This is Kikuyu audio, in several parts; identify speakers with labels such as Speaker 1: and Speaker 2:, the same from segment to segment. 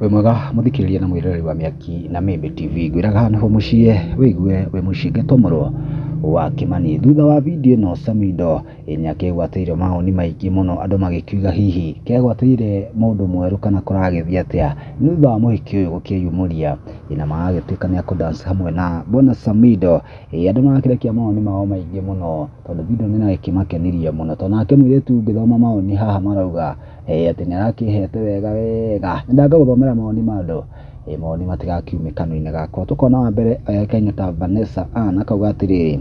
Speaker 1: wĩ mwega mũthikĩrĩria na mwĩroreri wa mĩaki na mĩmbe tv ngwĩraga nĩho mũciĩ wĩigue wĩ mũciĩ ngĩtomorwo wa kĩmani thutha wa video ĩno samido nĩ akĩgwatĩire maoni maingĩ mũno andũ magĩkiuga hihi kegwatĩire mũndũ mwerũ kana kũragĩthiĩ atĩa nĩ thutha wa mũhiki ũyũ gũkĩyumũria na magagĩtuĩka nĩ akũdance hamwe na bwana samido Ĩĩ andũ nĩmarakĩrekia mawoni mao maingĩ mũno tondũ video ĩno nĩrakĩmakenirie mũno tondũ nake mũirĩtu ngĩthoma mawoni haha marauga atĩ nĩarakĩhete wega wega. Nyendaga ngagũthomera mawoni ma andũ mawoni matigakiume kanua-inĩ gakwa. Tũkona wa mbere oĩkaine ta Vanessa Ann akauga atĩrĩrĩ,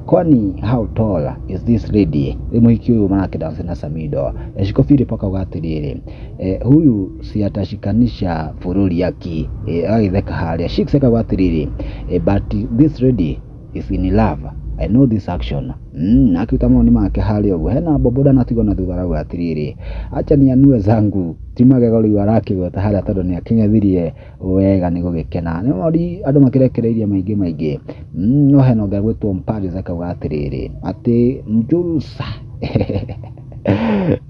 Speaker 1: Kwani how tall is this lady? Rĩu mũhiki ũyũ marakĩ dance na Samido. Eshiko Philip akauga atĩrĩrĩ. eh, huyu si atashikanisha fururi yake eh, agitheka haria shikse akauga atiriri eh, but this lady is in love I know this action mm, na akiruta maoni make haria uguo hena boboda natigwo na thutha arauga atiriri acha nianue zangu ti magego riu arakigota haria tondu ni aking'ethirie wega nĩ gũgĩkena nĩ mori andũ makĩrekereirie maingĩ maingĩ Mm, no hena ũngĩ agwĩtwo Mparis akauga atĩrĩrĩ atĩ Njurusa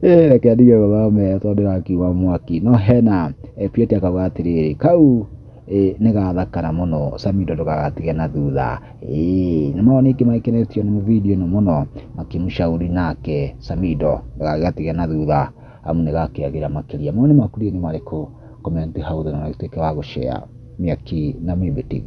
Speaker 1: Eh, reke ndige gũthome tondũ ndĩrakiuga mwaki no hena eh, Pieti akauga atĩrĩrĩ kau eh, nĩ gathakara mũno Samido ndũgagatige na thutha Eh, nĩ mao ningĩ magĩkenetio nĩ video ĩno mũno makĩmũcauri nake Samido ndũgagatige na thutha amu nĩ gakĩagĩra makĩria. Mawoni maku rĩu nĩ marĩkũ? Comment hau thĩ na ũtuĩke wa gũshare Mĩaki na Mĩmbi TV.